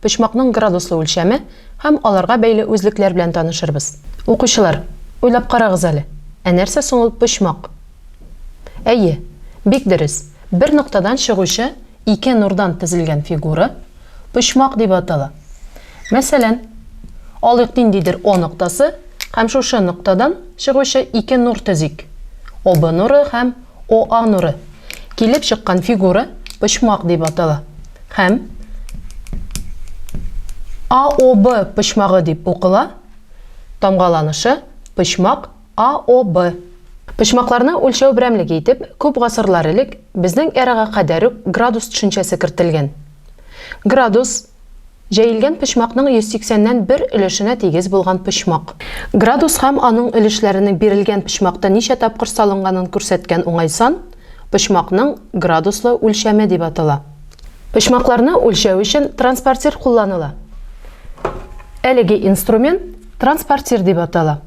Почмакның градуслы үлчәме һәм аларга бәйле үзлекләр белән танышырбыз. Укучылар, уйлап карагыз әле, ә нәрсә соң ул почмак? Әйе, бик дөрес, бер ноктадан чыгучы ике нурдан тезелгән фигура почмак дип атала. Мәсәлән, алыйк ниндидер О ноктасы һәм шушы ноктадан чыгучы ике нур төзик, ОБ нуры һәм Оа нуры. Килеп чыккан фигура почмак дип атала һәм АОБ почмагы дип укыла, тамгаланышы, почмак АОБ. Почмакларны үлчәү берәмлеге итеп күп гасырлар элек безнең эрага кадәр үк градус төшенчәсе кертелгән. Градус, Җәелгән почмакның 180 нән бер өлешенә тигез булган почмак. Градус һәм аның өлешләренең бирелгән почмакта ничә тапкыр салынганын күрсәткән уңай сан почмакның градуслы үлчәме дип атала. Почмакларны үлчәү өчен транспортир кулланыла. Әлеге инструмент транспортир дип атала.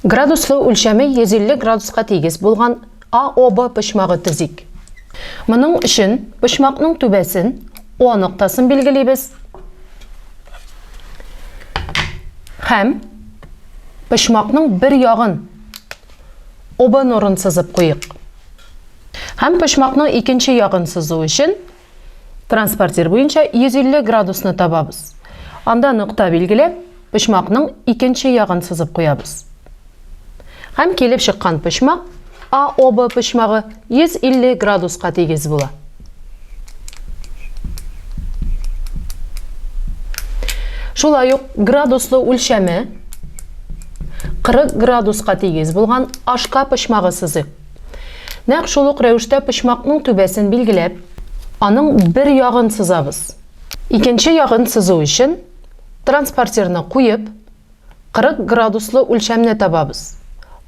Градуслы үлчәме 150 градуска тигез булган А, О, Б почмагы төзик. Моның өчен почмакның түбәсен О ноктасын билгелибез. Һәм почмакның бер ягын ОБ нурын сызып куйык. Һәм почмакның икенче ягын сызу өчен Транспортир буенча 150 градусны табабыз. Анда нокта билгеләп, почмакның икенче ягын сызып куябыз. Һәм килеп чыккан почмак АОБ почмагы 150 градуска тигез була. Шулай ук градуслы үлчәме 40 градуска тигез булган ашка почмагы сызыйк. Нәкъ шул ук рәвештә почмакның түбәсен билгеләп, аның бер ягын сызабыз. Икенче ягын сызу өчен транспортирны куеп, 40 градуслы үлчәмне табабыз.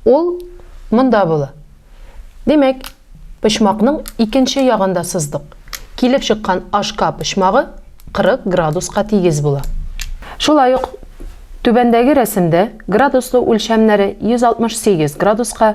Ул монда була. Димәк, почмакның икенче ягын да сыздык. Килеп чыккан HK почмагы 40 градуска тигез була. Шулай ук түбәндәге рәсемдә градуслы үлчәмнәре 168 градуска,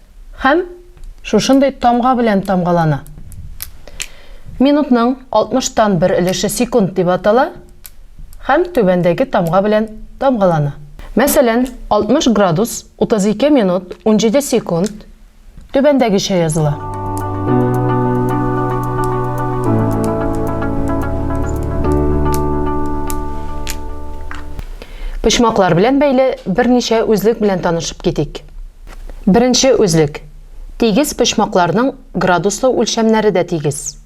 һәм шушындый тамга белән тамгалана. Минутның 60 тан бер өлеше секунд дип атала һәм түбәндәге тамга белән тамгалана. Мәсәлән, 60 градус 32 минут 17 секунд түбәндәгечә языла. Почмаклар белән бәйле берничә үзлек белән танышып китик. Беренче үзлек, тигез почмакларның градуслы үлчәмнәре дә тигез.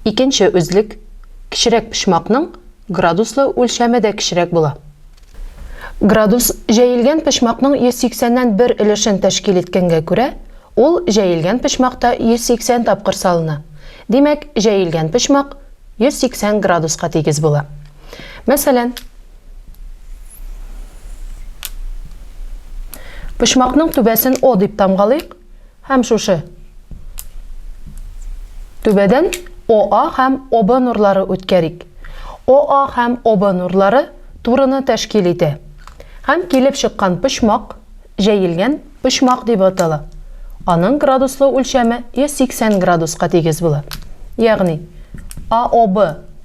Икенче үзлек, кечерәк почмакның градуслы үлчәме дә кечерәк була. Градус җәелгән почмакның 180 нән бер өлешен тәшкил иткәнгә күрә, ул җәелгән почмакта 180 тапкыр салына, димәк, җәелгән почмак 180 градуска тигез була. Мәсәлән. Почмакның түбәсен О дип тамгалыйк һәм шушы түбәдән ОА һәм ОБ нурлары үткәрик. ОА һәм ОБ нурлары турыны тәшкил итә. Һәм килеп чыккан почмак Җәелгән почмак дип атала. Аның градуслы үлчәме 180 градуска тигез була. Ягъни, АОБ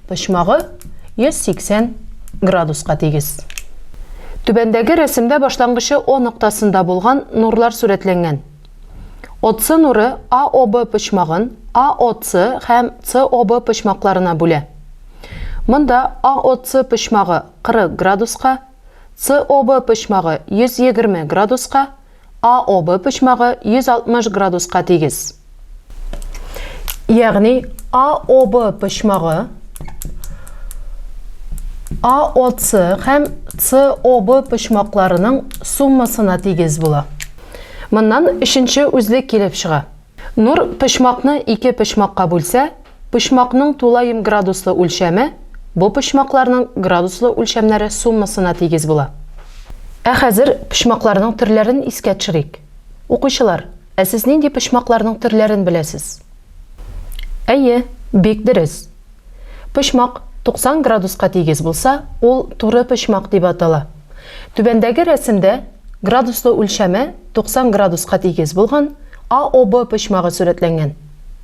почмагы 180 градуска тигез. Түбәндәге рәсемдә башлангычы О ноктасында булган нурлар сурәтләнгән. ОЦ нуры АОБ почмагын АОЦ һәм СОБ почмакларына бүлә. Монда АОЦ почмагы 40 градуска, СОБ почмагы 120 градуска, АОБ почмагы 160 градуска тигез. Ягъни АОБ почмагы АОЦ һәм СОБ почмакларының суммасына тигез була. Моннан өченче үзлек килеп чыга. Нур почмакны ике почмакка бүлсә, Почмакның тулаем градуслы үлчәме бу почмакларның градуслы үлчәмнәре суммасына тигез була. Ә хәзер почмакларның төрләрен искә төшерик. Укучылар, ә сез нинди почмакларның төрләрен беләсез? Әйе, бик дөрес. Почмак 90 градуска тигез булса, ул туры почмак дип атала. Түбәндәге рәсемдә градуслы үлчәме 90 градуска тигез булган AOB почмагы сурәтләнгән.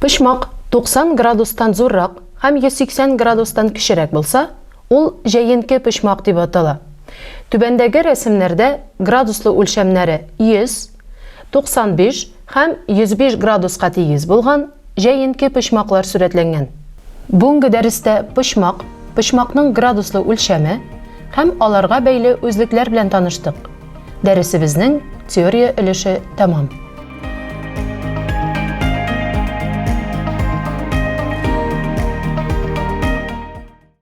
Почмак 90 градустан зуррак һәм 180 градустан кечерәк булса, ул җәенке почмак дип атала. Түбәндәге рәсемнәрдә градуслы үлчәмнәре 100, 95 һәм 105 градуска тигез булган җәенке почмаклар сурәтләнгән. Бүгенге дәрестә почмак, почмакның градуслы үлчәме һәм аларга бәйле үзлекләр белән таныштык. Дәресебезнең теория өлеше тәмам.